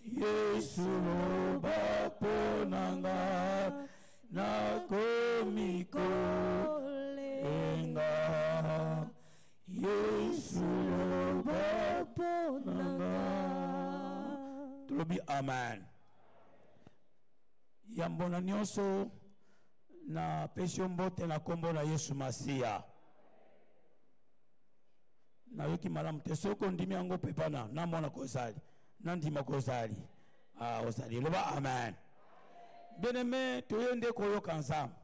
Yesu loba mpo na nga nakomi kolenga Yesu loba mpo na nga tolobi amen yambo na nyonso napesi yo mbote na nkombo na yesu masiya nayoki malamu te soki ondimi yango mpe bana namona kozali nandima kozali ah, ozali loba amen bien aime toye nde koyoka nzambe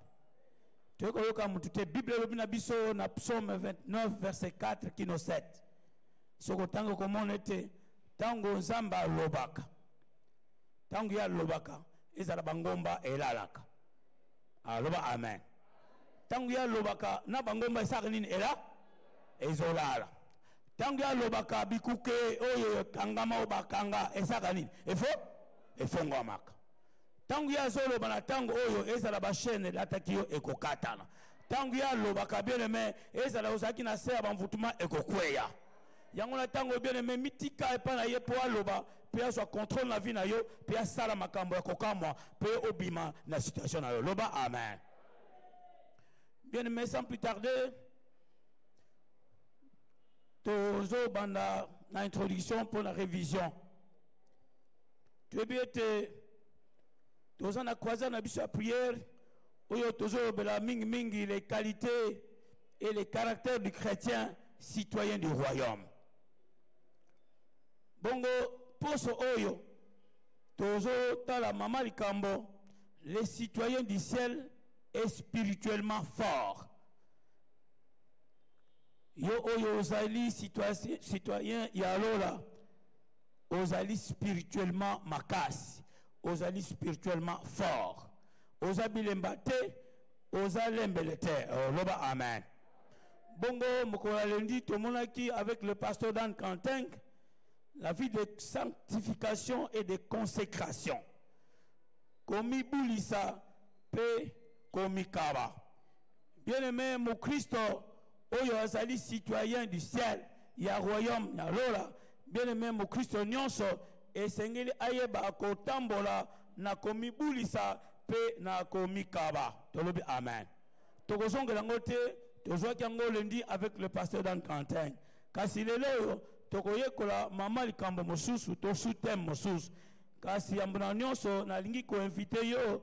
toye koyoka motu te bible elobi na biso na psaume 29 verset 4 kino 7 soki otanga okomona ete ntango nzambe alobaka ntango ye alobaka ezala bangomba elalaka aloba ah, amen ntango ye alobaka na bangomba esaka nini ela ezolala ntango alobaka bikuke oyo ekangama oyo bakanga esaka nini efo efongwamaka ntango ye azoloba na ntango oyo ezala bashene elataki yo ekokatana ntango ye alobaka bieneme ezala ozalaki na se ya bamvutuma ekokweya yango na ntango bieneme mitika epai na ye mpo aloba mpe azwa contrôle na vie na yo mpe asala makambo ya kokamwa mpe obima na situation na yo loba amen bieneme sans plus tarder tozo banda na introduction mpo na révision toyebi ete toza na croisade na biso ya prière oyo tozolobela mingimingi les qualités et les caractères du chrétien citoyen du royaume bongo poso oyo tozotala mama likambo les citoyens du ciel est spirituellement fort yo oyo ozali citoyen ya lola ozali spirituellement makasi ozali spirituellement fort oza bilemba te oza lembele te oh, loba amen bongo mokolo ya lendi tomonaki avec le pasteur dan canteng la vie de sanctification et de consécration komibulisa mpe komikaba Bien aimé mokristo oyo azali citoyen du ciel ya royaume ya lola bien aimé mokristo nyonso esengeli ayeba kotambola na komibulisa mpe na komikaba tolobi amen tokozongela yango te tozwaki yango lundi avec le pasteur dan quentin kasi lelo oyo tokoyekola mama likambo mosusu to sous teme mosusu kasi yambo na nyonso nalingi koinvite yo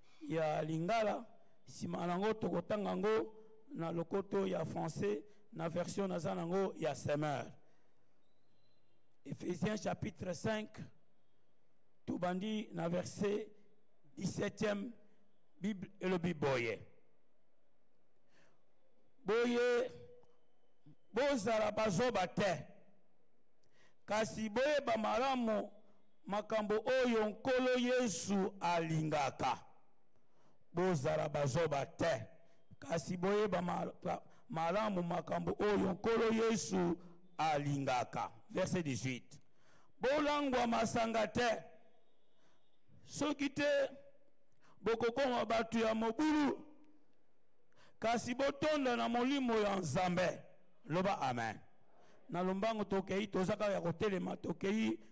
ya lingala nsima nango tokotanga yango na lokoto ya français na version naza nango ya semeur Ephésiens chapitre 5, tout bandit na verset 17e, Bible et le Biboye. Boye, bozala bazoba te, kasi boyeba malamu makambo oyo nkolo yesu alingaka bozala bazoba te kasi boyeba malamu makambo oyo nkolo yesu alingaka verse 18 bolangwa masanga te soki te bokokoma bato ya mobulu kasi botonda na molimo ya nzambe loba amen na lombango tokei toza kaka ya kotelema tokei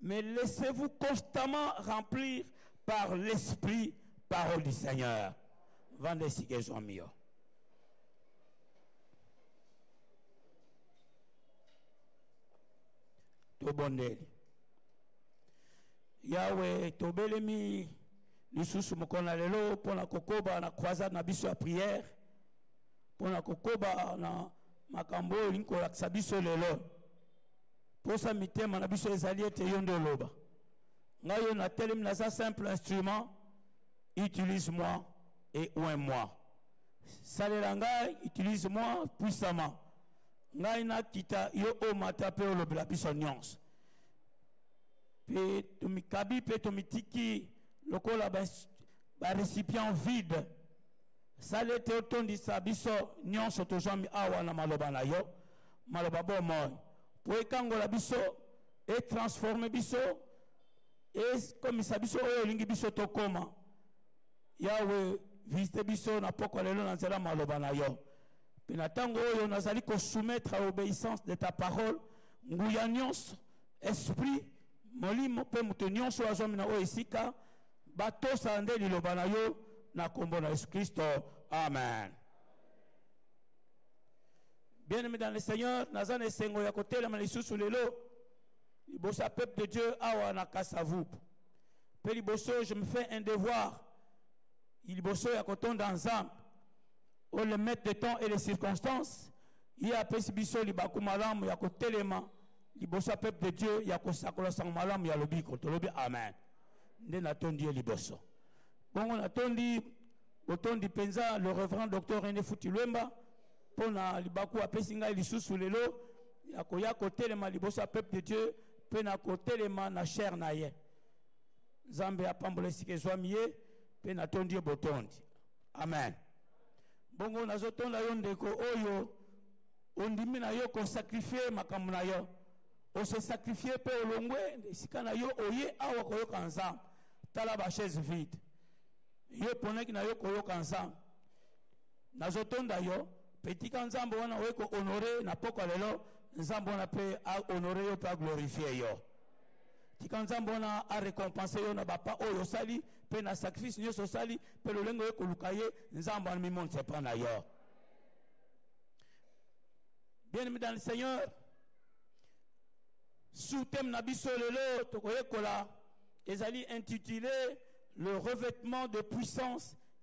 Mais laissez-vous constamment remplir par l'esprit, parole du Seigneur. Vendez si que sont mieux. tobondeli yawe tobelemi lisusu mokolo na lelo mpo na kokoba na croisade na biso ya priere mpo na kokoba na makambo oyo olingi kolakisa biso lelo posa mitema na biso ezali ete yo nde oloba ngai yo natelemi naza simple instrument utilise moi et oin moi salela ngai utilise moi puissamment ngai nakita yo omata mpe olobela biso nyonso mpe tomikabi mpe tomitiki lokola barecipient vide sala ete otondisa biso nyonso tozwami awa na maloba na yo maloba bomoi mpo ekangola biso etransforme biso ekomisa biso oyo olingi biso tokoma yawe visite biso na pokwa lelo na nzela maloba na yo mpe na ntango oyo nazali kosoumettre à obéissance de ta parole nguya nyonso esprit molimo mpe moto nyonso oyo azwami na oyo esika batosa nde liloba na yo na nkombo na yesu kristo amen bien aimé dans le seigneur naza na esengo ya kotelema lisusu lelo liboso ya peuple de dieu awa na kasavup mpe liboso je me fais un devoir liboso ya kotonda nzambe o le maître de temps et les circonstances ye apesi biso libaku malamu ya kotelema liboso ya peuple de dieu ya kosakola sango malamu ya lobiko tolobi amen nde natondi ye liboso bongo natondi botondi mpenza le reverend docteur rené futi lwemba mpo na libaku apesi ngai lisusu lelo ya koya kotelema liboso ya peuple de dieu mpe na kotelema na chaire na ye nzambe apambola esika ezwami ye mpe natondi ye botondi amen bongo nazotonda yo ndeko oyo ondimi na yo kosakrifie makambo na yo ose sakrifie mpe olongwe esika na yo oye awa koyoka nzambe tala bachaise vide yo mponaki na yo koyoka nzambe nazo tonda yo mpe tika nzambe wana oye kohonore na pokwa lelo nzambe wana mpe ahonore yo mpe aglorifie yo tika nzambe wana arekompense yo na bapa oyo osali mpe na sacrifice nyonso osali mpe lolenge oye koluka ye nzambe wana mimonisa epa na yo bien aimé dans le seigneur sous thème na biso lelo tokoyekola ezali intitulé le revêtement de puissance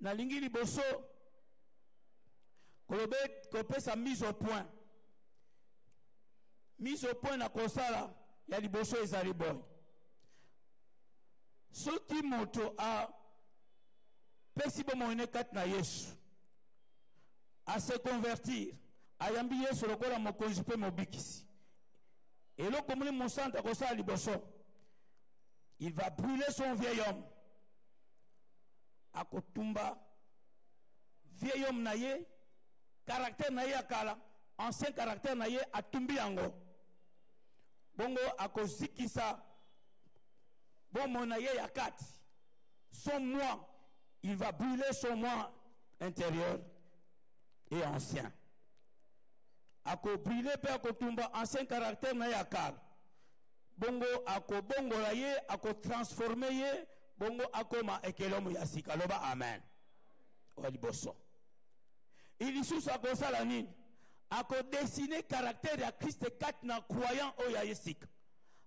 nalingi liboso kolobe kopesa mise au point mise au point na kosala ya liboso ezali boye soki moto apesi bomoi ne kati na yesu ase convertir ayambi yesu lokola mokonzi mpe mobikisi eloko moni mosantu akosala liboso il va brûler son vieil homme akotumba vieil homme na ye caractère na ye ya kala ancien caractère na ye atumbi yango bongo akozikisa bomoi na ye ya kati son moi il va brûler son moi intérieur et ancien akobrûle mpe akotumba ancien caractère na ye ya kala bongo akobongola ye akotransforme ye bongo akoma ekelemu ya sika loba amen oya liboso ilisusu akosala nini akodesine karaktere ya kriste kati na croyant oyo ya ye sika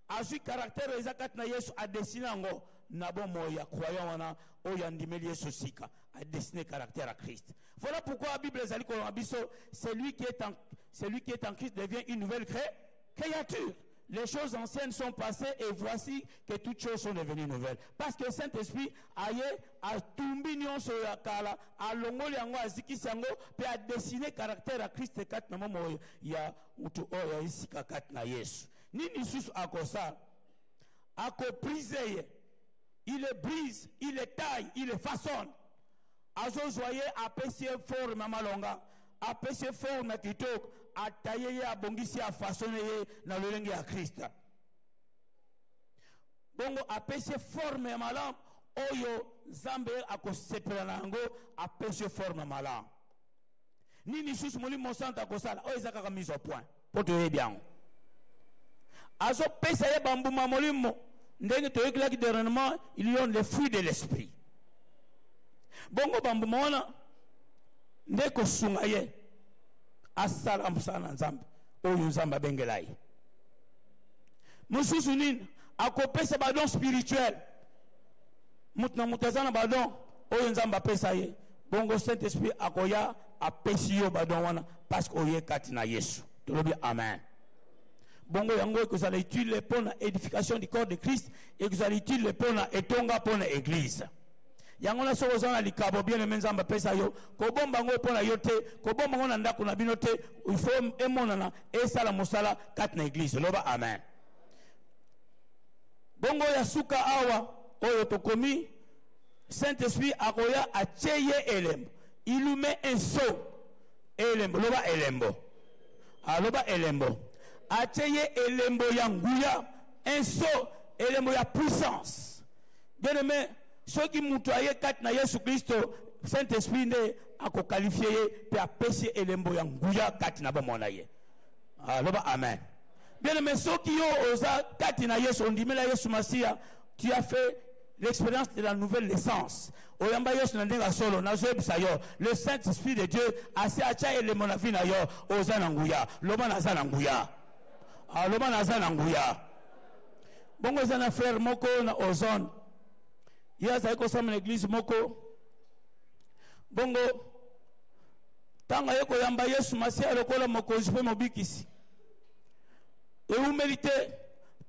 azwi karaktere oyo eza kati na yesu adesine yango na bomoi ya croyant wana oyo andimeli yesu sika adesine karaktere ya kriste voilà pourquoi bible ezali kolonga biso celui qui est en, celui qui est en christ devient une nouvelle créature Créature, les choses anciennes sont passées et voici que toutes choses sont devenues nouvelles. Parce que le Saint-Esprit aye atumbi nyonso ya kala, alongoli yango, azikisi yango, pe a dessiner caractère ya Christ kat na mama oyo ya mutu oyo ya isika kat na Yesu. Nini susu akosala? Akoprise ye. Il le brise, il le taille, il le façonne. Azozwa ye apesi ye forme ya malonga. apesi forme kitoko ataye ye abongisi afasone ye na lolenge ya krista bongo apesi forme ya malamu oyo nzambe akosepela na yango apesi forme malamu nini lisusu molimo mosantu akosala oyo eza kaka mise au point mpo toyebi yango azopesa ye bambuma molimo ndenge toyekelaki dernièrement il donne le fruit de l'esprit bongo bambuma wana nde kosunga ye asala mosala na nzambe oyo nzambe abengela ye mosusu nini akopesa badon spirituel moto na moto aza na badon oyo nzambe apesa ye bongo saint esprit akoya apesi yo badon wana parce que oye kati na yesu tolobi amen bongo yango ekozala utile mpo na édification du corps de christ ekozala utile mpo na etonga mpo na église yango na soki oza na likabo bien aime nzambe apesa yo kobomba yango mpo na yo te kobomba yango na ndako na bino te ifo emonana esala mosala kati na église loba amen bongo ya suka awa oyo tokomi saint esprit akoya atye ye elembo Ilume enso elembo loba elembo aloba ah, elembo atye ye elembo ya nguya enso elembo ya puissance bien aime soki moto aye kati na yesu kristo saint esprit nde akokalifie ye mpe apesi ye elembo ya nguya kati na bomoi na ye aloba ah, amen bien aime soki yo oza kati na yesu ondimela yesu masiya tu as fait l'expérience de la nouvelle naissance oyamba yesu na ndenge ya solo nazoyebisa yo le saint esprit de dieu asi atya elembo na vi na yo oza na nguya loba naza na nguya ah, loba naza na nguya bongo eza na frere moko na ozone ye azali kosamba na eglize moko bongo ntango aye koyamba yesu masiya lokola mokonzi mpe mobikisi ewumeli te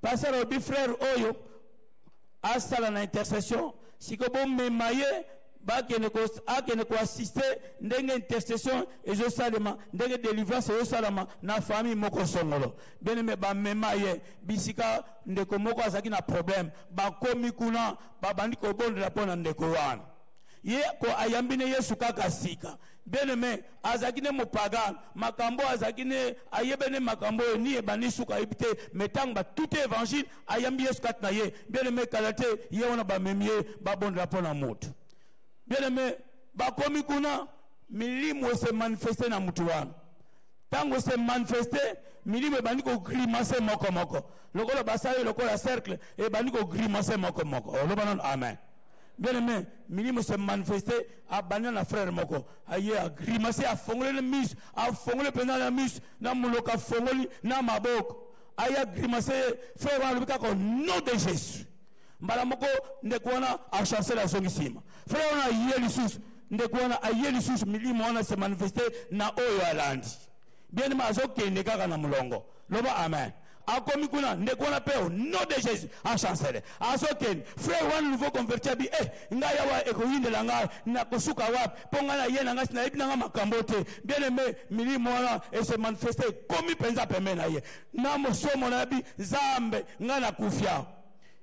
pasere obi frere oyo asala na intercession siko bomema ye bakende akende koassiste ndenge intercession ezosalema ndenge délivrance ezosalama na famille moko songolo bien aime bamema ye bisika ndeko moko azalaki na problème bakomi kuna babandi kobondela mpo na ndeko wana ye ko ayambi ne yesu kaka sika bien aime azalaki ne mopagane makambo azalaki ne ayebene makambo oyo ni ebandi suka ayebi te mai ntango batute évangile ayambi yesu kati na ye bieleme kala te ye wana bamemi ye babondela mpo na moto bieleme bakomi kuna milimo ese manifeste na moto wana ntango ese manifeste milimo ebandi kogrimase moko moko lokola basali lokola cercle ebandi kogrimase moko moko oloba nano amen bien aimé milimo se manifeste abanda na frère moko aye agrimase afongoli na miso afongoli mpenza na miso na monoko afongoli na maboko aya grimace ye frere wana alobi kaka nom de jésus mbala moko ndeko wana achancele azongi nsima frere wana aye lisusu ndeko wana aye lisusu milimo wana se manifeste na oyo alandi bienema azokende kaka na molongo loba amen akomi kuna ndeko wana mpe o nom de jésus achancele azokende frère wana nouveau converti abi e eh, ngai awa ekoyindela ngai nakosuka wapi mpo ngai naye na ngai si nayebi na ngai makambo te bien aime milimo wana ese manifeste ekomi mpenza pembe na ye na mosomo na yabi zambe ngai nakufi awa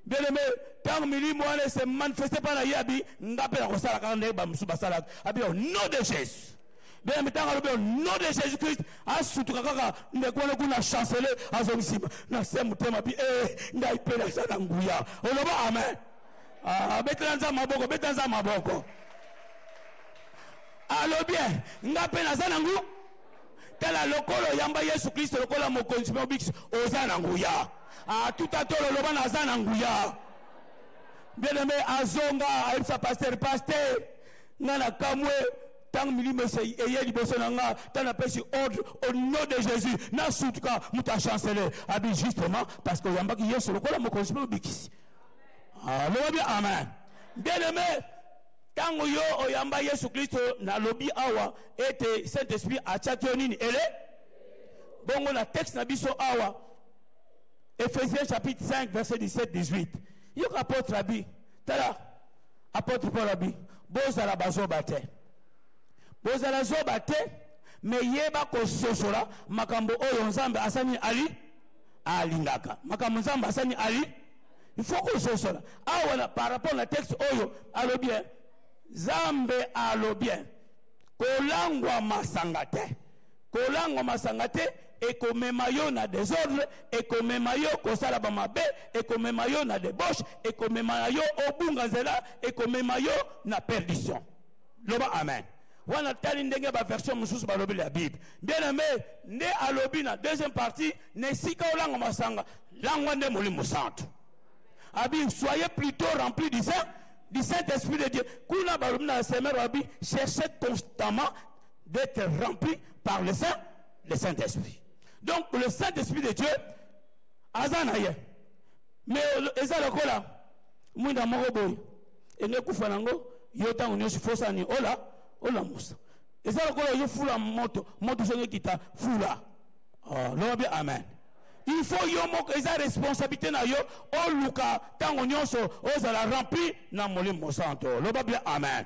bien aime ntango milimo wana ese manifeste mpa na ye abi ngai mpe nakosala kaka ndenge bamosusu basalaka abi au nom de jésus bena mitanga alobi au nom de jésus christ asutuka kaka ndeko wana kuna chancele azongi nsima na se motema bi e ngai mpe naza na nguya oloba amen ah, abetela nza maboko beta nza maboko alobi eh, ngai mpe naza na nguya tala lokola oyamba yesu kristo lokola mokonzi mpe obikisi oza na nguya atuta ah, tolo loba naza na nguya bien aime azonga ayebisa paster paster nga na kamwe ntango milimo eye liboso na nga ntango napesi ordre au nom de jésus nasutuka moto achancele abi justement parce que oyambaki yesu lokola mokonzi mpe obikisi aloba ah, bien amen bien aimé ntango yo oyamba yesu kristo nalobi awa ete saint esprit atiaki yo nini ele bongo na texte na biso awa ephésiens chapitre 5 verset 17 18 yoka apôtre abi tala Apotre Paul abi bozala bazoba te. Bozala zoba te mais yeba kososola makambo oyo Nzambe asani ali alingaka. Makambo Nzambe asani ali il faut kososola awa na par rapport na texte oyo alobi eh, Nzambe alobi eh, kolangwa masanga te. kolango masanga te ekomema yo na desordre ekomema yo kosala bamabe ekomema yo na debauche ekomema na yo obunga nzela ekomema yo na perdition loba amen wana tali ndenge baversion mosusu balobi la bible bien aime nde alobi na deuxième partie na esika olanga masanga langwa nde molimo santu abi soyez plutôt rempli du saint du saint esprit de dieu kuna balobi na semer abi cherchez constamment d'être rempli par le Saint, le Saint-Esprit. Donc le Saint-Esprit de Dieu, Azanaye. Mais eza lokola mwinda moko boye enge kufa nango yo ntango nyonso fosani ola olamusa eza lokola yo fula moto moto soki ekita fula ah, loba bien amen il faut yo moko eza responsabilité na yo oluka ntango nyonso ozala rempli na molimo mosanto loba bien amen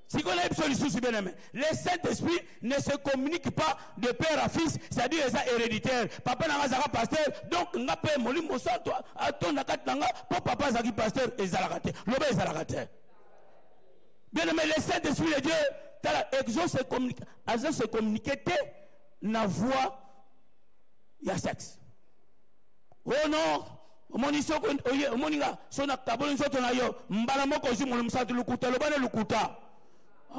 sikoyo nayebi biso lisusu bien aime le saint esprit ne se communique pas de père à fils c'est-à-dire eza héréditaire papa na nga azalaka pasteur donc nga mpe molimo mosantu atonda kati na nga mpo papa azalaki pasteur ezalaka te loba ezalaka te bien aime le saint esprit de dieu tala exo se communique azo se communique te na voix ya sexe oh non omoni soko oye omoni nga so nakaboli nzoto na yo mbala moko ozwi molo mosatu lokuta loba na lokuta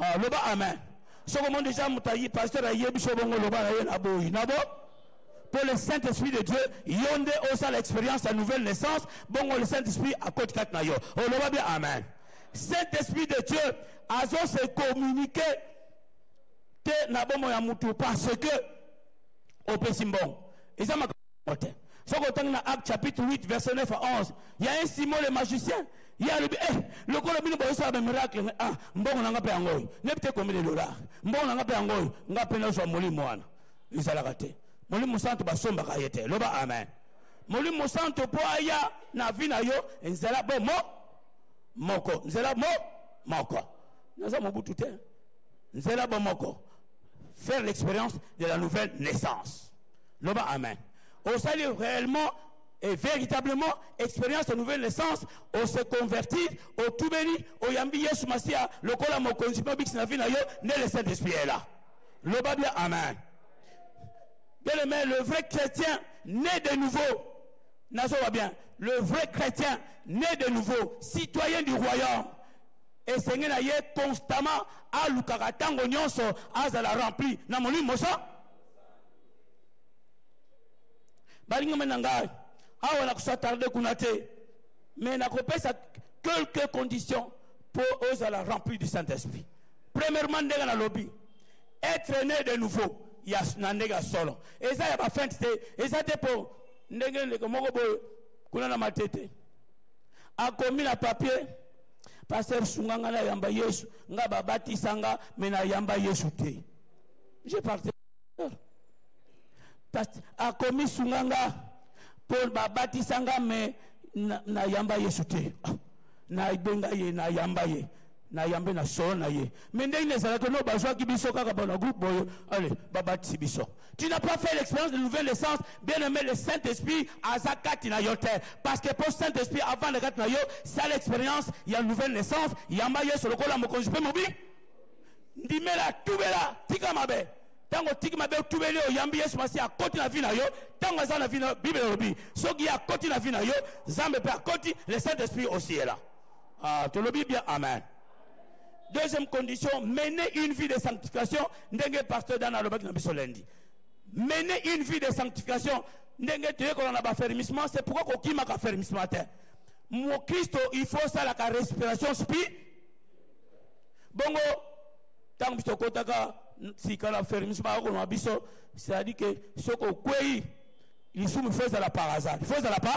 ah, loba amen soko omoni deja moto pasteur ayebi so bongo loba na ye na boyi na bo mpo le saint esprit de dieu yo nde osala expérience ya nouvelle naissance bongo le saint esprit akoti kati na yo oloba bia amen saint esprit de dieu azose communique te na bomoi ya motu parce que opesi mbongo eza yango te soki otangi na acte chapitre 8 verset 9 à 11 ya un simon le magicien ye alobi eh lokola bino bozosala bamiracle ah mbongo na nga mpe yango oyo nebi te kombele dolar mbongo na nga mpe yango oyo nga mpe nazwa molimo wana ezalaka te molimo mosantu basombaka ye te loba amen molimo mosantu mpo aya na vi na yo nzela bo mo moko nzela mo moko naza mobutu te nzela bo moko faire l'expérience de la nouvelle naissance loba amen osali réellement et véritablement expérience ya nouvelle naissance ose convertir otubeli oyambi yesu masiya lokola mokonzi mpe obikisi na vi na yo nde le saint esprit est là loba bien amen bien aimé le vrai chrétien né de nouveau nazoba bien le vrai chrétien né de nouveau citoyen du royaume esenge na ye constamment alukaka ntango nyonso azala rempli na molimo mosa balingama na ngai awa nakosatarde kuna te mais nakopesa quelques conditions mpo ozala rempli du saint esprit premièrement ndenge nalobi être né de nouveau ya na ndenge ya solo eza ya bafente te eza te mpo ndenge ndeko moko boye kuna na matete akomi na papier paster sunga nga nayamba yesu nga babatisa nga me nayamba yesu te je parte akomi sunga nga mpo babatisa nga me nayamba na yesu te ah, nabenga ye nayamba ye nayambe na solo na ye me ndenge na ezalaki no bazwaki biso kaka bana groupe boye ale babatisi biso tu n'as pas fait l'expérience de nouvelle essence bien aimé le saint esprit aza kati na yo te parce que mpo saint esprit avanda kati na yo sala expérience ya nouvelle naissance yamba yesu lokola mokonzi mpe mobi ndimela tubela tika mabe ntango otiki mabe otubeli oyambi yesu masiya akoti na vi na yo ntango aza na vi na yo bibele elobi soki ye akoti na vi na yo nzambe mpe akoti le saint esprit aussi est là ah, tolobi bien amen deuxième condition mener une vie de sanctification ndenge pasteur dana alobaki na biso lundi mener une vie de sanctification ndenge toyekola na bafermissement c'est pourquoi kokimaka fermissement te mokristo il faut osalaka respiration spi bongo ntango biso tokotaka sika na fermis bakoloma biso c'est-à-dire ke soki okwei lisumu fo ezala par hasard fo ezala pa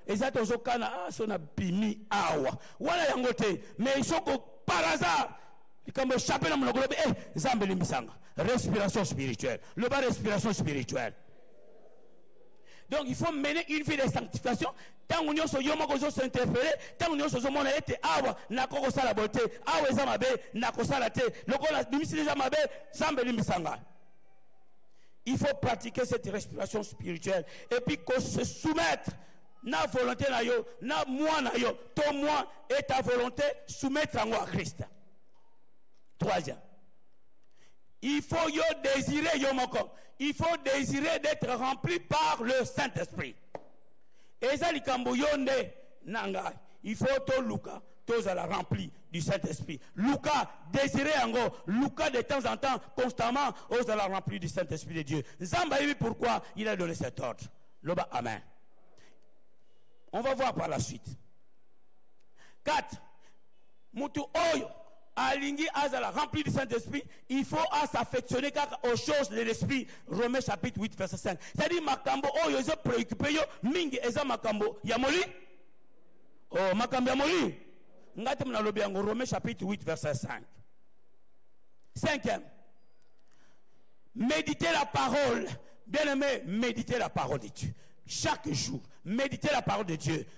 eza tozokana ah, so na bimi awa wana yango te mais soki par hasard likambo echape na monoko lobi e eh, nzambe elimbisanga respiration spirituelle loba respiration spirituelle donc il faut mener une vie de sanctification ntango nyonso yo moko ozo s'interpele ntango nyonso ozomona ete awa nakoki kosala boye te awa eza mabe nakosala te lokola bimisi deja mabe nzambe elimbisa ngai il faut pratiquer cette respiration spirituelle et puis ko se soumettre na volonté na yo na moi na yo to moi et ta volonté soumettre yango à christ troisième il faut yo désirer yo moko il faut désirer d'être rempli par le saint-esprit eza likambo yo nde na ngai il faut toluka tozala rempli du saint-esprit luka désiré yango luka de temps en temps constamment ozala rempli du saint-esprit de dieu nzambe ayebi pourquoi il a donné cet ordre loba amen on va voir par la suite 4 mutu oyo alingi azala rempli du saint-esprit il faut à s'affectionner kaka aux choses de l'esprit romains chapitre 8 verset 5 c'est-à-dire makambo oyo ezo préoccupe yo mingi eza makambo ya moli oh makambo ya moli ngai te nalobi yango romains chapitre 8 verset 5 cinquième méditer la parole bien aimé méditer la parole de dieu chaque jour méditer la parole de dieu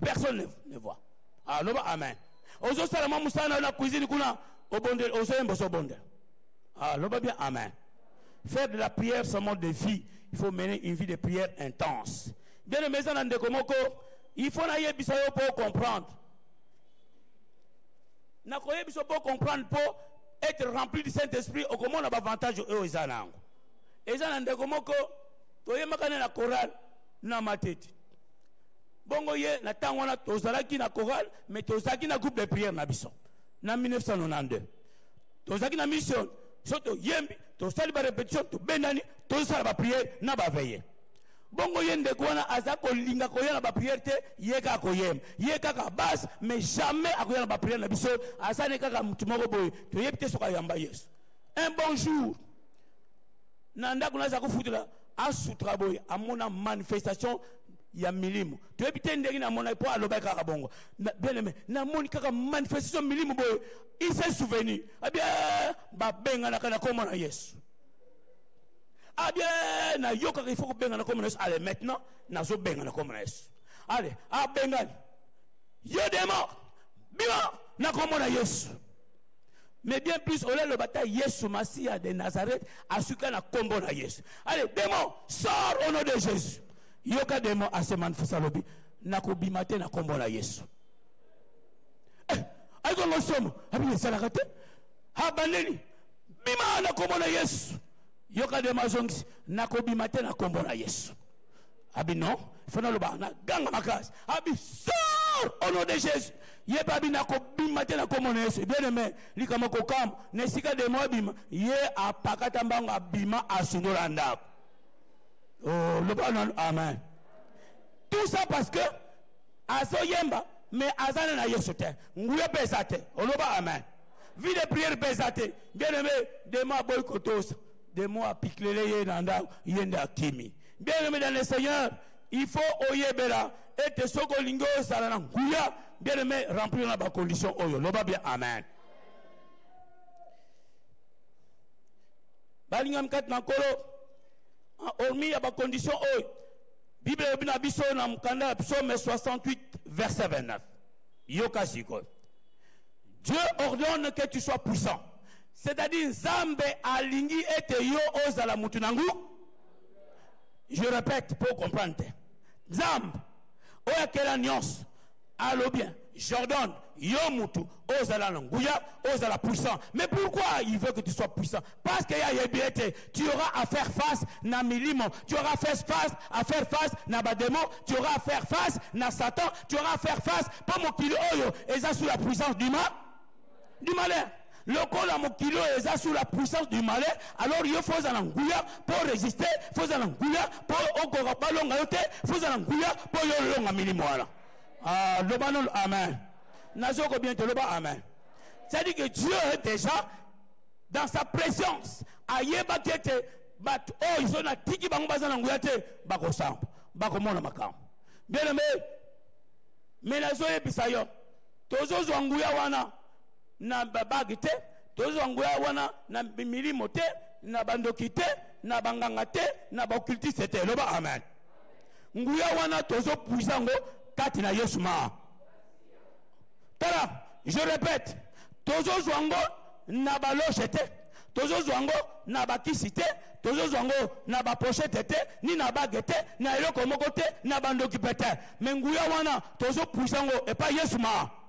personne ne, ne voit ah, loba amen ozosala mwa mosala na yo na cuisine kuna obondeli ozoyemba ozobondela ah, loba bien amen faire de la prière son mode de vie il faut mener une vie de prière intense bien aimé eza na ndeko moko il faut nayebisa yo mpo comprendre nakoyebisa mpo comprendre mpo être rempli du saint esprit okomona bavantage oyo eza na yango eza na ndeko moko toyembaka ne na chorale na matete bongo ye na ntango wana tozalaki na chorale mais tozalaki na groupe de prière na biso na 1992 tozalaki na mission so toyembi tosali barépétition tobendani tozosala baprière na baveye bongo ye ndeko wana aza kolinga koya na baprière te ye kaka koyemba ye kaka base mais jamais akoya na baprière na biso aza ne kaka motu moko boye toyebi te soki ayamba yesu un bon jour na ndako naza kofutela asutra boye amona manifestation ya milimu toyebi te ndenge namonaki mpo alobaki kaka bongo bien aime namoni kaka manifestation milimu boye ise souveni abie eh, babenganaka na nkombo na yesu abie eh, nayokaka ifo kobenga na nkombo na yesu ale maintenant nazobenga na nkombo na yesu ale abengani yo demo bima na nkombo na yesu mais bien plus olia loba ta yesu masiya de nazareth asuka na kombo na yesu allez demon sort au nom de jésus yoka demon ase manifesta lobi nakobima te na kombo na yesu eh, ayikongo somo abi esalaka te abandeli bima na kombo na yesu yoka demon azongisi nakobima te na kombo na yesu abi non fo naloba na ganga makasi abi sor au nom de jésus ye mpe abi nakobima te na nkombo na yesu bien aime likama kokamba na esika demo abima ye apakata mbango abima asundola ndako oh, loba nanu amen tout ça parce que azoyemba mais aza na na yesu te nguya mpe eza te oloba amen vie de prière mpe eza te bien aime demo aboyi kotosa demo apiklele ye na ndako ye nde akimi Bien aimé dans le Seigneur, il faut oyebela ete soki olingi ozala na nguya bien aimé remplir na bacondition oyo loba bien amen balingami kati na nkolo hormi ya bacondition oyo bible elobi na biso na mokanda ya psaume 68 verset 29 yoka sikoyo dieu ordonne que tu sois puissant c'est-à-dire nzambe alingi ete yo ozala motu na nguya je répète mpo comprendre te nzambe oyo akela nyonso alobi jordan yo mutu ozala na nguya ozala puissant mais pourquoi il veut que tu sois puissant parce que ya yebi ete tu auras à faire face na milimo tu auras face face à faire face na bademo tu auras à faire face na satan tu auras à faire face mpo mokili oyo eza sous la puissance du mal du malin lokola mokili oyo eza sous la puissance du malin alors yo fo ozala nguya mpo orésiste fo ozala nguya mpo okoka balonga yo te fo ozala nguya mpo yo olonga milimo wana ah, loba nolo amen nazoko bien te loba amen c'est-à-dire que dieu déjà dans sa présence ayebaki ete bato oyo oh, so natiki bango baza na nguya te bakosamba bakomona makambo bien aime me nazoyebisa yo tozozwa nguya wana na babage te tozozwa nguya wana na milimo te na bandoki te na banganga te na baokultiste te loba amen nguya wana tozopuisa yango kati na yesu maa tala je répète tozozwa yango na baloshe te tozozwa yango na bakisi te tozozwa yango na baposhete te ni na bage te na eloko moko te na bandoki mpe te me nguya wana tozopuisa yango epai yesu maa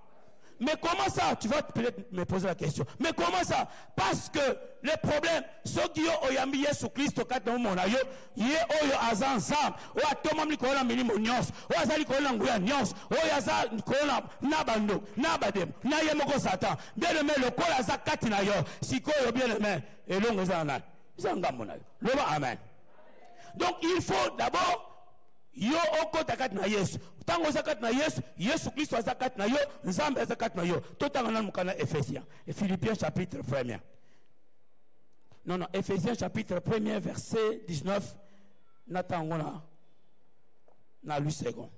Mais comment ça Tu vas peut-être me poser la question. Mais comment ça Parce que le problème, ceux qui ont oyambi Yesu Christ au cadre de mon aïe, yé oyo azan zam, ou a tomam li kola mini monios, ou azali kola nguya nios, ou azal kola nabando, nabadem, na yemoko satan. Bien aimé, le kola za kati na yo, si koyo bien aimé, et l'on eza ngambo na yo loba amen donc il faut d'abord yo okota kati na yesu ntango oza kati na yesu yesu kristo aza kati na yo nzambe aza kati na yo totanga nanu mokanda ephésiens philippiens chapitre 1 non non ephésiens chapitre 1 verset 19 na ntango na na lui second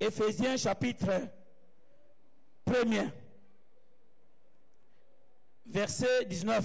ephésiens chapitre 1 verset 19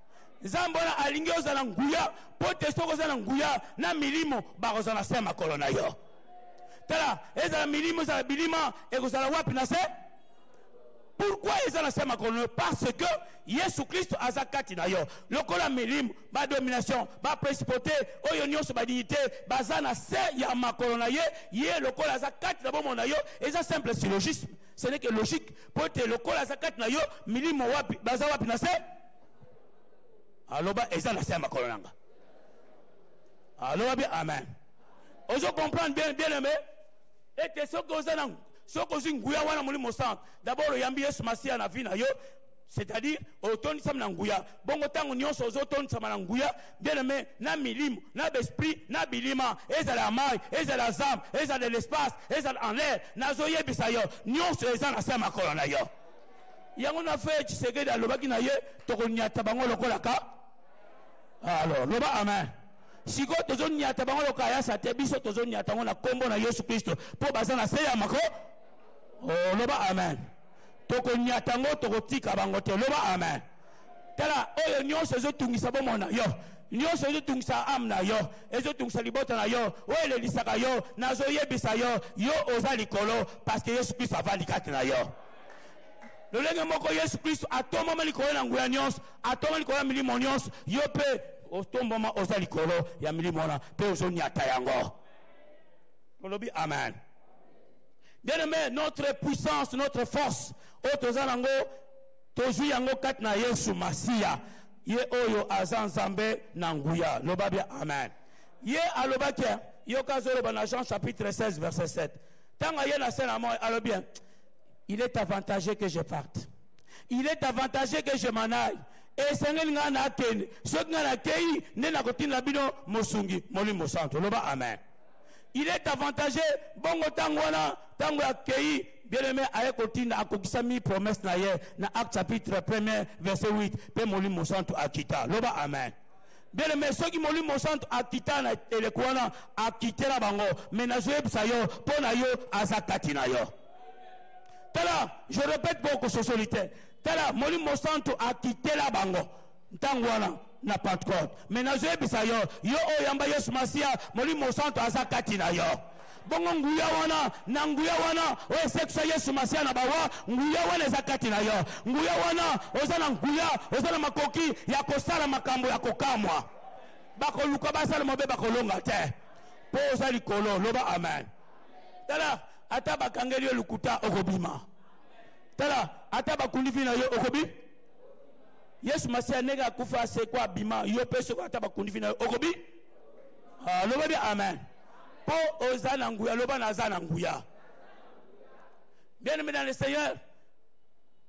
nzambe wana alingi ozala nguya mpo te soki oza na nguya na milimo bakozala na se ya makolo na yo tala ezala milimo ezala bilima ekozala wapi na se pourkui eza na se ya makolo na yo parce que yesu kristo aza kati na yo lokola milimo badomination baprincipaute oyo nyonso badignité baza na se ya makolo na ye ye lokola aza kati na bomoi na yo eza simple syllogisme ce n'est que logique mpo te lokola aza kati na yo milimo wapi baza wapi na se aloba eza na se ya makolo nanga aloba bi amen ozo comprendre bien bien aimé ete soki oza na soki ozwi nguya wana molimo santu dabord oyambi yesu masiya na vi na yo c'est-à-dire otondisami na nguya bongo ntango nyonso ozotondisama na nguya bien aimé na milimo na besprit na bilima ezala ya mai ezala ya zamba ezala ya l'espace ezala en l'air nazoyebisa yo nyonso eza na se ya makolo na yo yango na feye tshisekedi alobaki na ye tokonyata bango lokola ka alors loba amen sikoyo tozonyata bango lokola yasa te biso tozonyata yango na nkombo na yesu kristo mpo baza na se ya mako oh, loba amen tokonyata yango tokotika bango te loba amen tala oyo nyonso ezotungisa bomoi na yo nyonso ezotungisa ame na yo ezotungisa libota na yo oyo elelisaka yo nazoyebisa yo yo oza likolo parceke yesu kristo avandi kati na yo lolenge moko yesu kristo atombama likolo na nguya nyonso atombama likolo ya milimo nyonso yo mpe otombama oza likolo ya milimo wana mpe ozonyata yango tolobi amen bien aimé notre puissance notre force oyo toza nango tozwi yango kati na yesu masiya ye oyo aza nzambe na nguya loba bia amen ye alobaki yoka azoloba na jean chapitre 16 verset 7 ntango aye na se na moi alobi il est avantagé que je parte il est avantagé que je m'en aille esengeli ngai nakende soki ngai nakei nde nakotinda bino mosungi molimo mosantu loba amen il est avantagé bongo ntango wana ntango akei bien-aimé aye kotinda akokisami promesse na ye na acte chapitre 1 verset 8 mpe molimo mosantu akita loba amen bien aimé soki molimo mosantu akita na eleko wana akitela bango me nazoyebisa yo mpo na yo aza kati na yo tala je répète mpo okososoli te tala molimo mosantu akitela bango ntango wana na pentecote me nazoyebisa yo yo oyo yamba yesu masiya molimo mosantu aza kati na yo bongo nguya wana na nguya wana oyo esekisa yesu masiya na bawa nguya wana eza kati na yo nguya wana oza na nguya oza na makoki ya kosala makambo ya kokamwa bakoluka basala mabe bakolonga te mpo oza likolo loba amen tala ata bakangeli yo lokuta okobima tala ata bakundifi na yo okobi yesu masiya ndenge akufa asekwa abima yo mpe soko ata bakundifi na yo okobi ah, loba bi amen mpo oza na nguya loba naza na nguya bien aimé dans le seigneur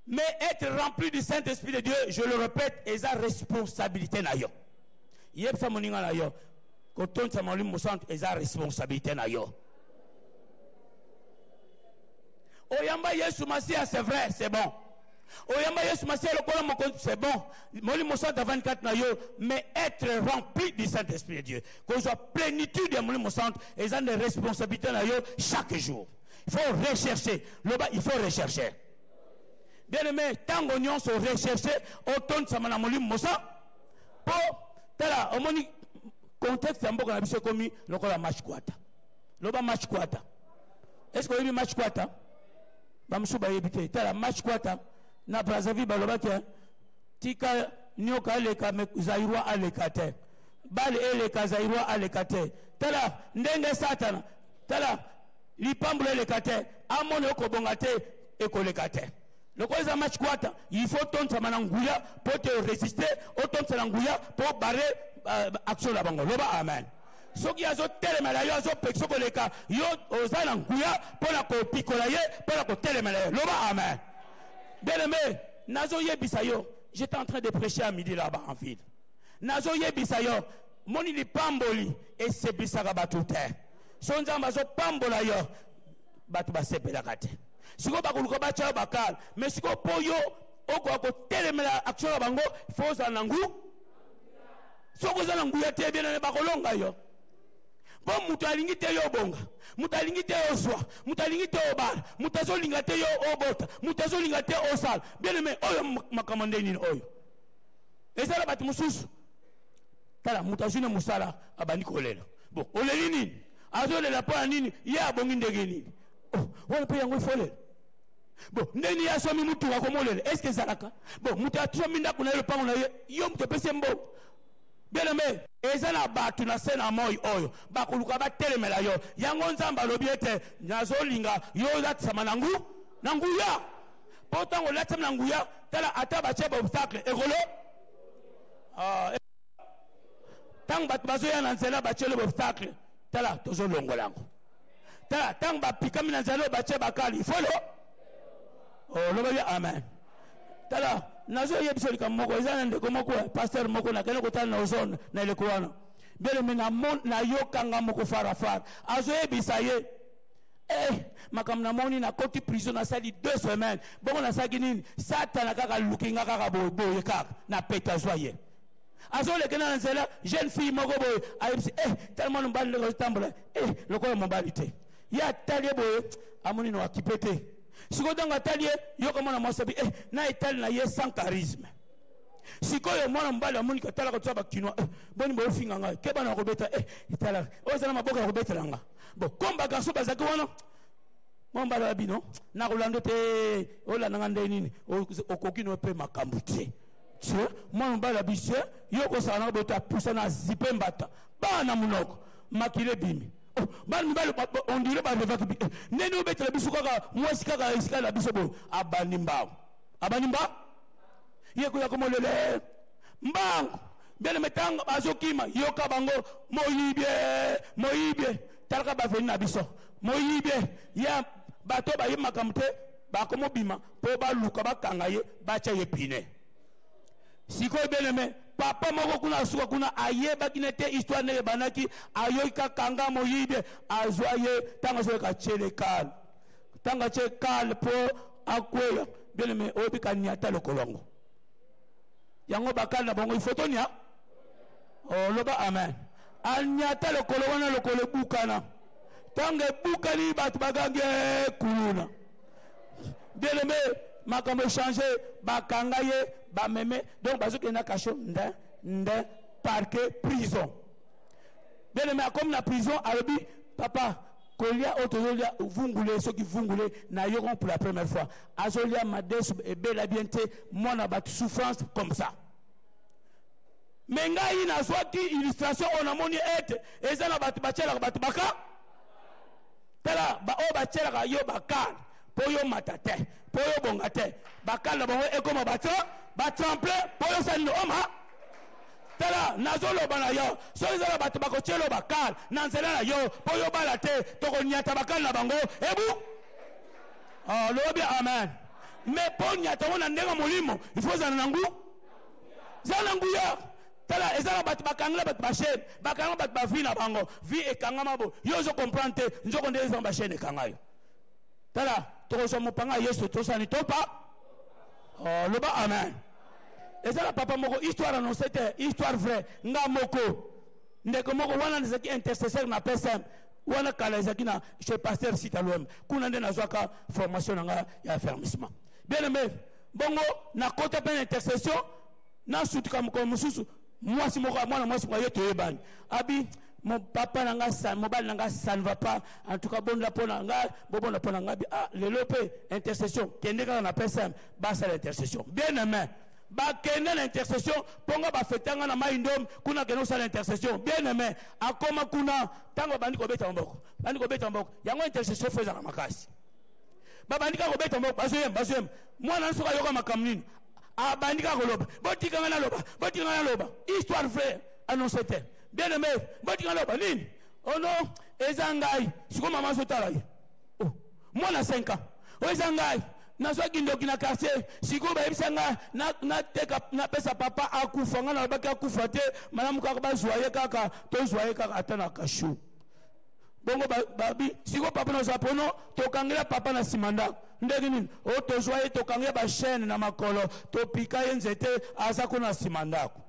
mais être rempli du saint esprit de dieu je le répète eza responsabilité na yo yebisa moninga na yo kotondisa molimo mosantu eza responsabilité na yo oyamba yesu masiya c'est vrai c'est bon oyamba yesu masiya lokola mokonzi c'est bon molimo santo avandi kati na yo mais être rempli du saint esprit de dieu kozwa plénitude ya molimo santo eza nde responsabilité na yo chaque jour il faut rechercher loba il faut rechercher bien aimé ntango nyonso recherche otondisama na molimo mosa mpo tala omoni contexte ya mboka na biso ekomi lokola match kwata loba match kwata est ce que oyebi match kwata bamosusu bayebi te tala match kwata na brazzaville balobaki eh, tika nioka aleka me zairoi aleka te bale eleka zairoi aleka te tala ndenge satana tala lipambula eleka te amoni okobonga te ekoleka te lokola eza match kwata il faut otontisama na nguya mpo te oresiste otontisana nguya mpo bare uh, action na bango loba amen soki azotelema na yo azopekisa koleka yo oza na nguya mpo na kopikola ye mpo na kotelema na ye loba amen bien aimé nazoyebisa yo j'étais en train de prêcher à midi là-bas en ville nazoyebisa yo moni lipamboli eseplisaka bato te so nzambe azopambola yo bato basepelaka te sikoyo bakoluka batya yo bakala me sikoyo mpo yo okoka kotelemela action na bango fo ozala na ngu soki oza na nguya te ebena na bakolonga yo mpo moto alingi te yo obonga moto alingi te yo ozwa moto alingi te obala moto azolinga te yo obota moto azolinga te osala bien aime oyo makambo nde nini oyo ezala bato mosusu tala moto azwi na mosala abandi kolela bon oleli nini azolela mpo ya nini ye abongi ndenge nini oh, wana mpe yango efolela bo ndeni ya somi mutu ako molele est ce que zalaka bo mutu atomi ndako na ye lopango na ye yo mutu opesi mbo bien aimé eza na bato na se na moi oyo bakoluka batelemela yo yango nzambe alobi ete nazolinga yo olatisama na ngu na nguya mpo ntango olatisama na nguya tala ata batye baobstacle ekolo ah, e- ntango bato bazoya na nzela batyeli baobstacle tala tozolongola yango tala ntango bapikami na nzela oyo batye bakali ifolo olobaki oh, amen tala nazoyebisa likambo moko eza na ndeko moko eh, paster moko nakende kotala na ozone na eleko wana bieleme nayokanga moko farafara azoyebisa ye eh, makambo namoni nakoti prison nasali deux semaines bongo nasalaki nini satana kaka luki nga kaka boye kaka na pete azwa ye azoleke na nzela jeune fille moko boye ayebisi eh tellement mobali ndenge azotambola eh lokola mobali te ye atali ye boye amoni no akipe te sikoyo ntango atali ye yoka mwana mwasi abi eh na etali na ye sans charisme sikoyo mwana mobali amoni katala kotia bakinois eh, boni boyofinga ngai ke bana bakobeta eh, etala oyo eza na maboka ya kobetela nga bo komba garso bazalaki wana mwa mobali ya bino nakolanda te olanda nga ndenge nini okoki no mpe makambo te se mwana mobali ya bise yo okosala na boto apusa na zipe mbata baa na monoko makila ebimi oh, bana mibali ondire balevaki eh, ndeni obetela biso kaka mwasi kaka esika na biso boye abandi mbango abandi mbango ye koya komolele mbango bieleme ntango bazokima yoka bango moyibie moyibie talaka baveni na biso moyibie ya bato bayebi makambo te bakomobima mpo baluka bakanga ye batya ye pine sikoyo beneme papa moko kuna asuka kuna ayebaki na te histoire ndenge ebandaki ayoki kakanga moyibi azwa ye ntango azoyoka tiele kale ntango atye kale mpo akweya beneme oyebi kaniata lokolo yango yango bakali na bango ifoto nia oloba oh, amen aniata lokolo wana lokolo ebukana ntango ebukani bato bagangi eh, kuluna bien aimé makambo echange bakanga ye bameme donc bazokende na kasho nde nde parke prison bien aimé akomi na prison alobi papa kolia oyo tozolia vungule soki vungule na yoko pour la première fois azolia madesu ebela bien te mwana bato souffrance comme ça me ngai nazwaki illustration oyo namoni ete eza na bato batyelaka bato baka tala baoyo batyelaka yo bakane mpo yo mata te mpo yo bonga te bakane na bango ekoma bato batemple mpo yo sani oma tala nazoloba na yo soki ezala bato bakotyelo bakane na nzela na yo mpo yo bala te tokonyata bakane na bango ebu ah, lobi amen me mpo nyata yango na ndenge molimo ifo ezala na ngu zala na nguya tala eza na bato bakangela bato bashene bakanga bato bavi na bango vi ekangama bo yo ozo comprendre te nzoko nde eza bashene ekanga yo tala tokozwa mopanga ya yesu tosani topa oh, loba amen eza na papa moko histoire annonce te histoire vrai nga moko ndeko moko wana ezalaki intercesseur na psm wana kala ezalaki na chez pasteur sitalom kuna nde nazwaka formation na nga ya affermissement bien aimé bongo nakota mpe na intercession nasutuka mokolo mosusu mwasi moko mwana mwasi moko ye toyebani abi mon papa na nga san mobali na nga ça ne va pas en tout cas bonda mpo na nga bobonda mpo na nga bi ah lelo mpe intercession kende kaka na psm basala intercession bien aimé bakende na intercession mpo nga bafeta nga na mai ndom kuna akende kosala intercession bien aimé akoma kuna ntango babandi kobeta maboko bandi kobeta maboko yango intercession fo ezala makasi babandi kaka kobeta maboko bazoyemba bazoyemba mwana nsoki ayoka makambo nini abandi kaka koloba botika ngai naloba botika ngai naloba histoire vraie annonce te bien aimé botika naloba nini oh non eza ngai sikoyo mama azotala ye oh, mwana 5 ans oyo oh, eza ngai nazwaki ndoki na quartier sikoyo bayebisa nga nateka napesa papa akufa nga nalobaki akufa te malamu kaka bazwa ye kaka tozwa ye kaka ata na kashu bongo babi ba, siko papa naza pono tokangela papa na nsima ndako ndenge nini o oh, tozwa ye tokange ye bachaine na makolo topika ye nzete aza kuna na nsima ndako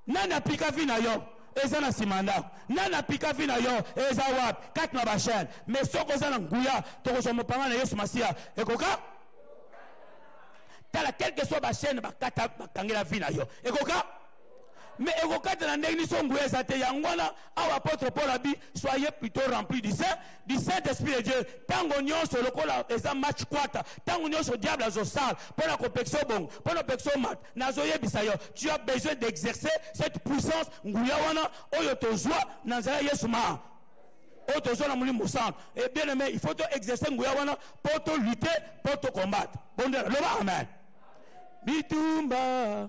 nani apika vi na yo eza na nsima ndako nani apika vi na yo eza wapi kati na bachaine me soki oza na nguya tokozwa mopanga na yesu masiya ekoka tala quelque soit bachaine bakangela vi na yo ekoka mais ekokata na ndenge niso nguya eza te yango wana awa apôtre paul abi soyez plutôt rempli du saint du saint esprit de dieu ntango nyonso lokola eza match kwata ntango nyonso diable azosala mpo na kopekisa obongo mpo na kopekisa omata nazoyebisa yo tu as besoin d'exercer cette puissance nguya wana oyo tozwa na nzela yesu maa oyo tozwa na molimo mosantu e eh, bien aime il faut to exercer nguya wana mpo to lutter mpo to combattre bondela loba amen bitumba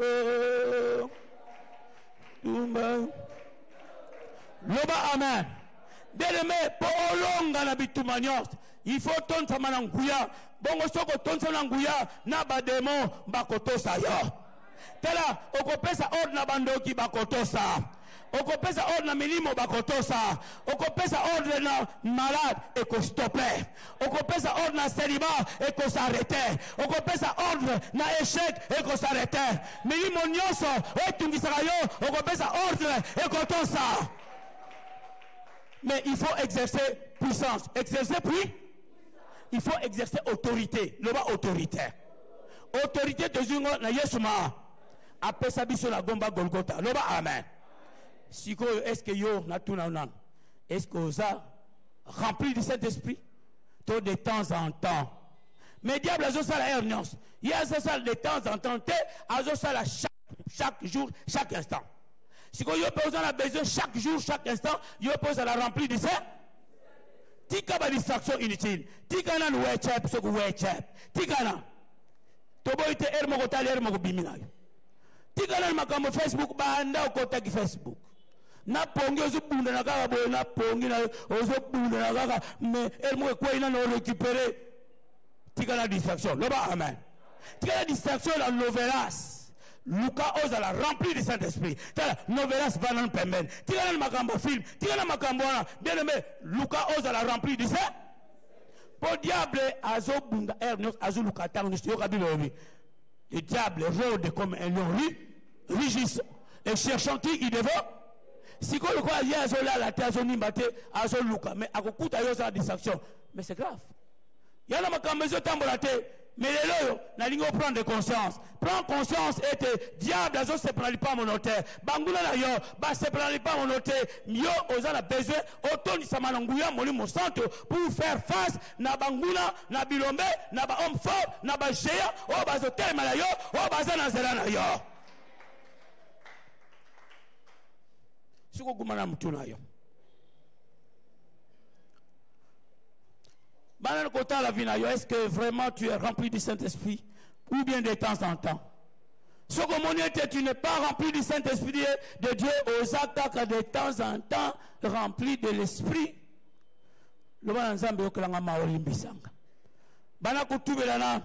Oh, tumba. loba amen ndeleme mpo olonga na bituma nyonso ifo otondisama na nguya bongo soki otondisama na nguya na bademo bakotosa yo tala okopesa ordre na bandoki bakotosa okopesa ordre na milimo bakotosa okopesa ordre na malade ekostope okopesa ordre na selima ekosarete okopesa ordre na echec ekosarete milimo nyonso oyo etungisaka yo okopesa ordre ekotosa mais il faut exercer puissance exercer puis il faut exercer autorité loba autorité autorité tozwi ngo na yesu maa apesa biso na gomba golgota loba amen sikoyo est ce que yo natuna nanu est ce que oza rempli du saint esprit to de temps en temps mais diable azosala heure nyonso ye azosala de temps en temps te azosala chaque, chaque jour chaque instant sikoyo yo mpe oza na besoin chaque jour chaque instant yo mpe ozala rempli du saint tika ba distraction inutile tika nanu wecep soki wecep tika na toboyi te ere moko tali ere moko bimi na yo tikala na makambo facebook banda okotaki facebook na pongi ozobundana kaka boye na pongi na yo ozobundana kaka me ere moko ekwei nano orécupere tikala distraction loba amen tikala distraction na lovelas luka ozala rempli du saint esprit tala novelas va nanu pembeni tikala na makambo film tikala na makambo wana bien aime luka ozala rempli du saint mpo diable azobunda heure nyonso azoluka ntango nyonso yoka bible olobi le diable rode comme un lion ri rigissant et cherchant qui il devant sikoyo lokola ye azolala te azonimba te azoluka mais akokuta yo ozala distraction mais c'est grave yana makambo ezotambola te Mais lelo oyo nalingi oprendre conscience prends conscience ete diable azosepela lipango no te banguna na yo basepela na lipango no te yo oza na besoin otondisama na nguya molimo santu pour faire face na banguna na bilombe na bahomme fort na bagéant oyo bazotelema na yo oyo baza na nzela na yo soki oguma na motu na yo bana na kotala vi na yo est ce que vraiment tu es rempli du saint esprit ou bien de temps en temps soki omoni ete tu n'es pas rempli du saint esprit de dieu oza kaka de temps en temps rempli de l'esprit loba na nzambe yokelanga mawa olimbisanga bana kotubela na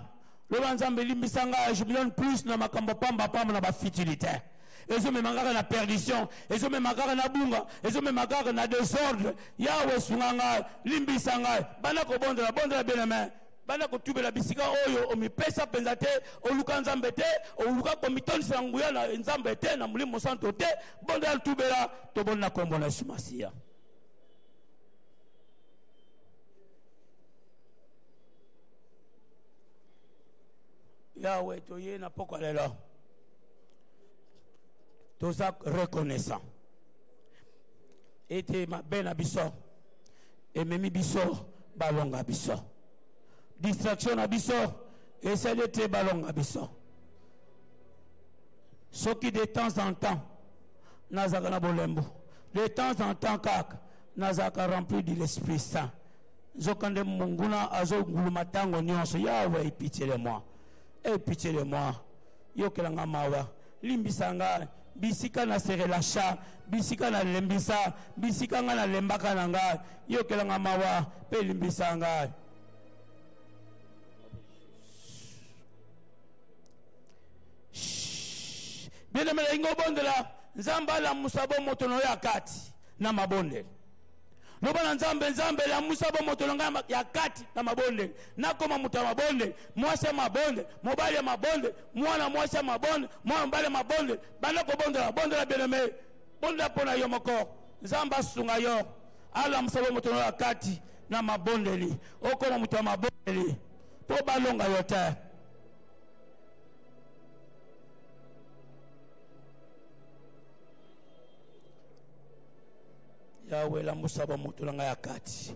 loba nzambe elimbisanga je me donne plus na makambo pamba pamba na bafutilité ezomema kaka na perdition ezomema kaka na bunga ezomema kaka na desordre yawe sunga ngai limbisa ngai banda kobondela bondela beneme banda kotubela bisika oyo omipesa mpenza te oluka nzambe te oluka komitondisa na nguya na nzambe te na molimo mosanto te bondela tubela toboni na nkombo na yesu masiya yawe toye na pokwa lelo toza reconnaissant ete mabe na biso ememi biso balonga biso distraction na biso esali ete balonga biso soki de temps en temps nazalaka na bolembu de temps en temps kaka nazalaka rempli de l'esprit saint nzokande monguna azonguluma ntango nyonso yawe pitié de moi e pitié de moi yokela nga mawa limbisa nga bisika na se relacha bisika na lembisa bisika nga na lembaka na nga yokela nga mawa mpe limbisa nga bien aime elingi obondela nzambe alamusa bomoto na yo ya kati na mabondeli loba na nzambe nzambe lamusa bomoto na ngai ya kati na mabondeli nakoma moto ya mabondeli mwasi ya mabondeli mobali ya mabondeli mwana mwasi ya mabondeli mwana mobali ya mabondeli banda kobondela bondela bieneme bondela mpo na yo moko nzambe asunga yo alamusa bomoto na yo ya kati na mabondeli okoma moto ya mabondeli mpo balonga yo te yawe lamusa bamoto na ngai ya kati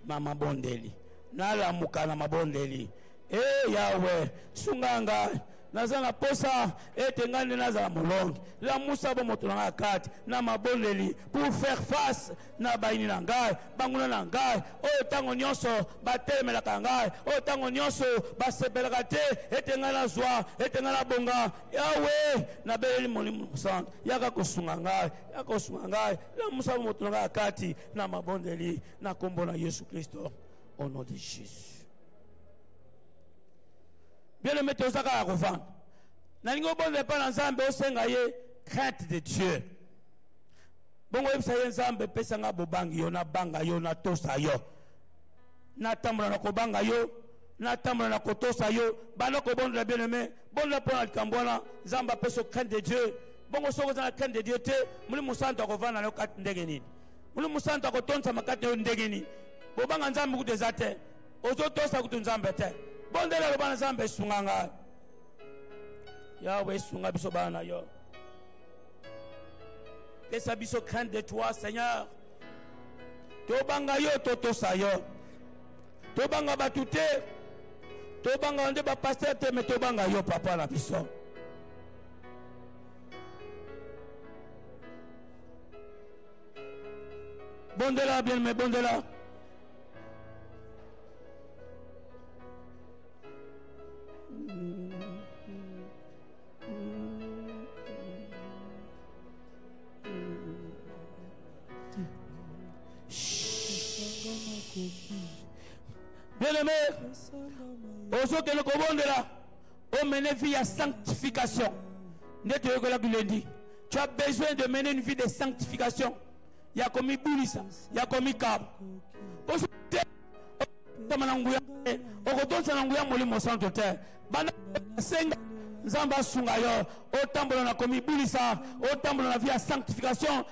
na mabondeli nalamuka na mabondeli e yawe sunga ngai naza na posa ete ngai nde nazala molongi lamusa bomoto na ngai ya kati na mabondeli pour faire face na bayini na ngai banguna na ngai oyo ntango nyonso batelemelaka ngai oyo ntango nyonso basepelaka te ete ngai nazwa ete ngai nabonga yawe nabeleli molimo mosantu yaka kosunga ngai ya kosunga ngai lamusa moto na ngai ya kati na mabondeli na nkombo na yesu kristo au nom de jésus bien aimé toza kaka kovanda nalingi obondela epai na nzambe osenga ye crainte de dieu bongo oyebisa ye nzambe pesa ngai bobangi yo nabanga yo natosa yo natambola na kobanga yo natambola na kotosa yo banda kobondela bien aimé bondela mpo na likambo wana nzambe apesa crainte de dieu bongo soki oza na crainte de dieu te molimo mosantu akovanda na yo kati ndenge nini molimo mosantu akotondisama kati na yo ndenge nini bobanga nzambe kutu eza te ozotosa kutu nzambe te bondela aloba na nzambe esunga ngai yawe esunga biso bana na yo pesa biso crainte de toi seigneur tobanga yo totosa yo tobanga bato te tobanga nde bapaster te me tobanga yo papa na biso bondela bien me bondela bien aimé ozokende kobondela Oh, mener vie à sanctification. Tu as besoin de mener une vie de sanctification. Il y a comme Boulissa, il y a comme Kab. okotonsa na nguya molimo santo te banda senga nzambe asunga yo otambola na komibulisa otambola na vie ya sanctification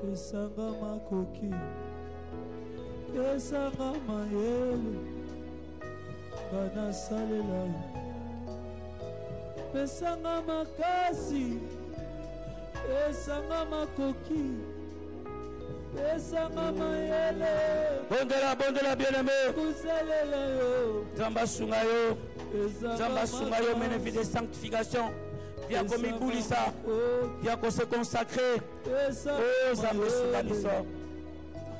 pesanga makoki pesanga mayele nga nasalela yo pesanga makasi pesanga makoki pesanga mayele bondela bondela bieneme kosalela yo nzambe asunga yo nzambe asunga yo mene vie de sanctification ya komibulisa ya kose consacre o zambe esunga biso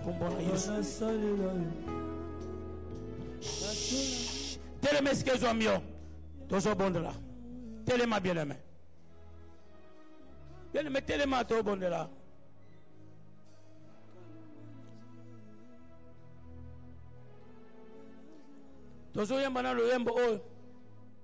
kombo na yesu telema esika ezwami yo tozobondela telema bieleme bieleme telema tobondela tozoyemba na loyembo oyo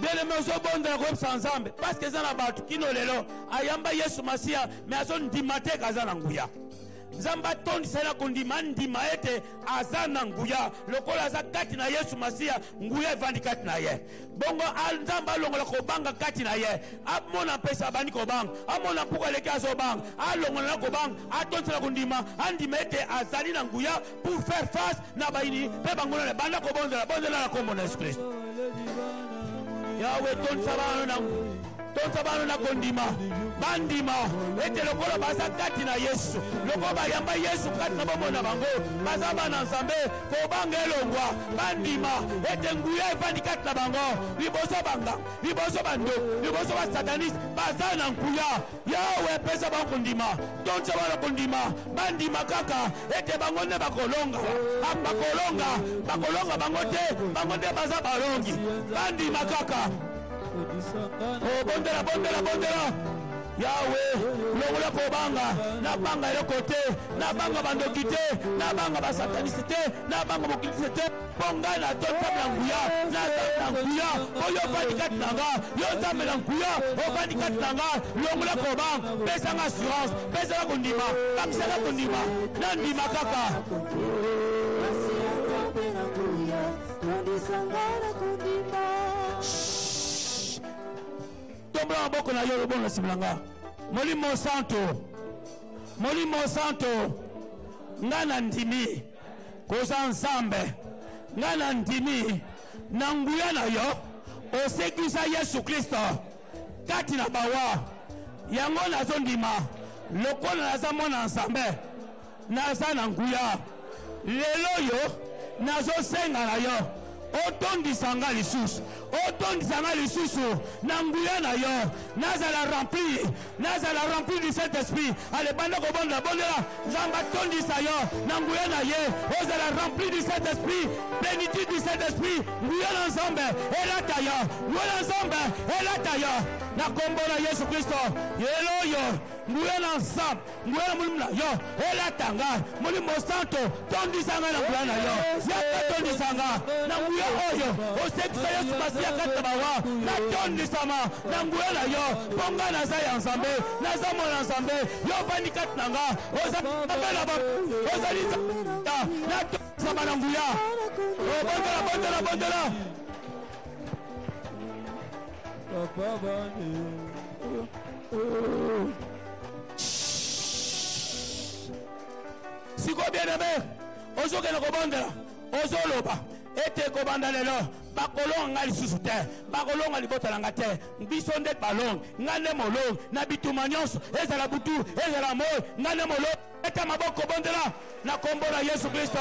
belema ozobondela koyebisa nzambe paske eza na bato kino lelo ayamba yesu masiya me azondima te kaza na nguya nzambe atondisa ye na kondima andima ete aza na nguya lokola aza kati na yesu masiya nguya evandi kati na ye bongo nzambe alongola kobanga kati na ye amona mpesa abandi kobanga amona mpuku aleki azobanga alongola na kobanga atondisela kondima andima ete azali na nguya pour faire face na bayini mpe banguna na banda kobonzela bonzela na nkombo na yesu kristo yawe tondisa bana na toza bano na kondima bandima ete lokola baza kati na yesu lokola bayamba yesu kati na bomoi na bango baza bana nzambe kobanga elongwa bandima ete nguya efandi kati na bango liboso banga liboso bando liboso basataniste baza na nguya yawe epesa bango kondima tonza bana kondima bandima kaka ete bango nde bakolonga ah, bakolonga bakolonga bango te bango nde baza balongi bandima kaka kobondela bondela bondela yawe longola kobanga nabanga eloko te nabanga bandoki te nabanga basatanisi te nabanga mokilisi te mpo ngai natosa na nguya nazali na nguya mpo yo ofandi kati na nga yo nzambe na nguya ofandi kati na nga longola kobanga pesanga assurance pesanga kondima bakisaka kondima nandima kaka tondisa nga na kondima tombola maboko na yo lobongo na nsima na nga molimo santo molimo santo nga na ndimi koza nzambe nga na ndimi na nguya na yo osekwisa yesu kristo kati na bawa yango nazondima lokola naza mwana nzambe naza na nguya lelo oyo nazosenga na yo otondisa nga lisusu otondisa nga lisusu na nguya na yo nazala rempli nazala rempli du saint esprit ale banda kobondela bondela nzambe atondisa yo na nguya na ye ozala rempli du saint esprit plénitude du saint esprit nguya na nzambe elata yo nguya na nzambe elata yo na kombo na yesu kristo lelo oyo nguya na nzambe nguya na molimo na yo elata ngai molimo santo tondisa ngai na nguya na yo yaka tondisa nga na nguya oyo osekisa yesu masiya kati na bawa natondisama na nguya na yo mpo ngai naza ya nzambe naza mwana nzambe yo ofandi kati na nga ozabela ozali natondisama na nguya obondela bondela bondela papa bane sikoyo bien aime ozokende kobondela ozoloba ete kobanda lelo bakolonga ngai lisusu te bakolonga libota na ngai te biso nde balongi ngai nde molongi na bituma nyonso ezala butu ezala moi ngai nde molongi beta maboko bondela na kombo na yesu kristo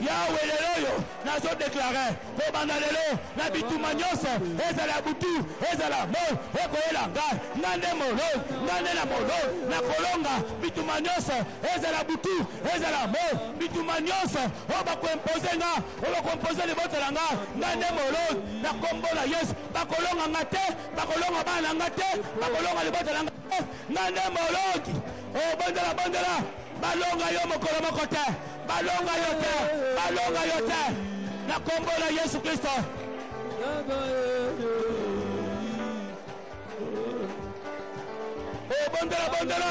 yawe lelo oyo nazodeklare kobanda lelo na bituma nyonso ezala ya butu ezala moi ekoyela ngai nga nde moloi nga nde na moloi na kolonga bituma nyonso ezala butu ezala moi bituma nyonso oyo bakoimpose nga oyo bakoimpose libota na nga nga nde moloi na kombo na yesu bakolonga nga te bakolonga bana na nga te bakolonga libota na nga Eh, nga nde moloki obandela oh, bandela balonga yo mokolo moko te balonga yo te balonga yo te na kombo na yesu kristo obondela oh, bondela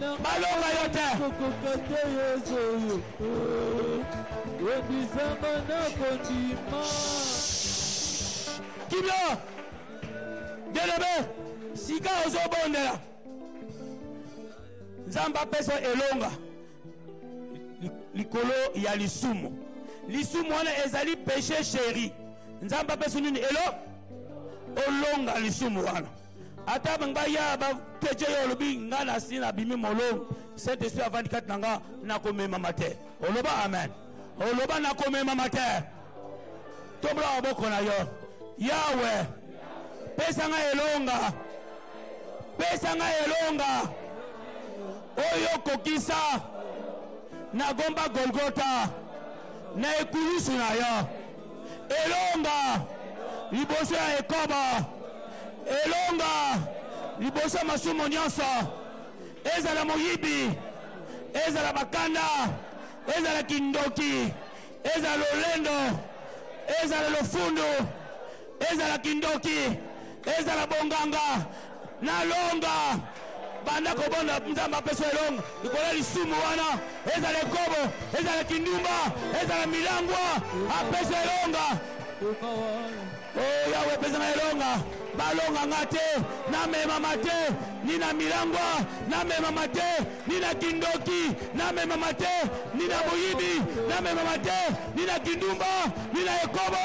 balonga yo te kokoka te yesu oyo ebisama na kondima kimia delebe sika ozobondela nzambe apesa elonga likolo ya lisumu lisumu wana ezali peche sheri nzambe apesa nini elo olonga lisumu wana ata bango baya bateje yo olobi ngai nasi nabimi molongo saint esprit avandi kati na nga nakomemama te oloba amen oloba nakomemama te tobola maboko na yo yawe pesa ngai elonga pesa ngai elonga oyo kokisa nagomba golgota na ekulusu na yo elonga liboso ya ekoba elonga liboso ya masumu nyonso ezala moyibi ezala bakanda ezala kindoki ezala lolendo ezala lofundu ezala kindoki ezala bonganga na longa banda kobonda nzambe apesa elonga likolo ya lisumu wana ezala ekobo ezala kindumba ezala milangwa apesa elonga o oh, yawe epesa na elonga balonga nga te namemama te ni na milangwa namemama te ni na kindoki namemama te ni na moyibi namemama te ni na kindumba ni na ekobo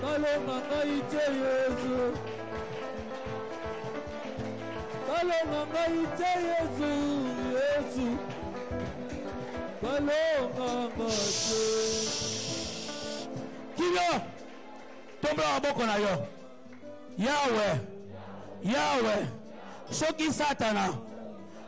Kalonga ngai te Yesu Kalonga ngai te Yesu Yesu Kalonga ngai te Kilo Tombola maboko na yo Yahweh Yahweh soki Satana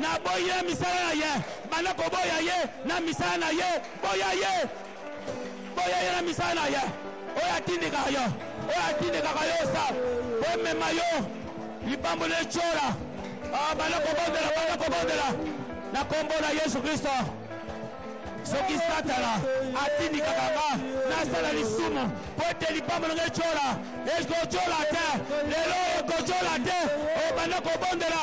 naboyi na misala na ye banda koboya ye na misala na ye boya ye boya ye na misala na ye oyo atindikaka yo oyo atindikaka yo sa omema yo likambo na etyola ah, banda kobondela banda kobondela na nkombo na yesu kristo soki satana atindikaka nga nasala lisumu mpo ete lipambo nanga etyola ekotyola te lelo ekotyola te obanda kobondela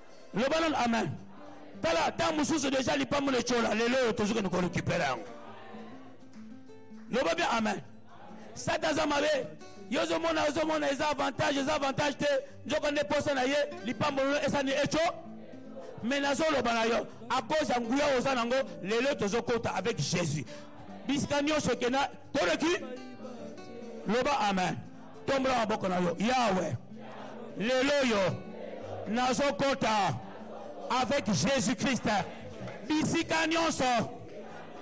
loba nanu amen tala ntango mosusu deja lipambo na etyola lelo oyo tozoki kende korekipere yango loba bia amen sata aza mabe yo ozomona ozomona eza avantage eza avantage te nzoko nde mposa na ye lipambo lino esani etyo me nazoloba na yo akoza nguya oyo oza nango lelo tozokota avec jésus bisika nyonso ekenda toleki loba amen tombola maboko na yo yawe lelo oyo nazokota avec jésus christ bisika nyonso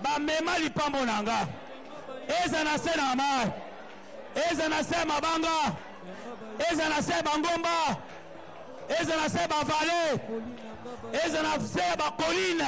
bamema lipambo na nga eza na se na mai eza na se mabanga eza na se bangomba eza na se bavale eza na se bakoline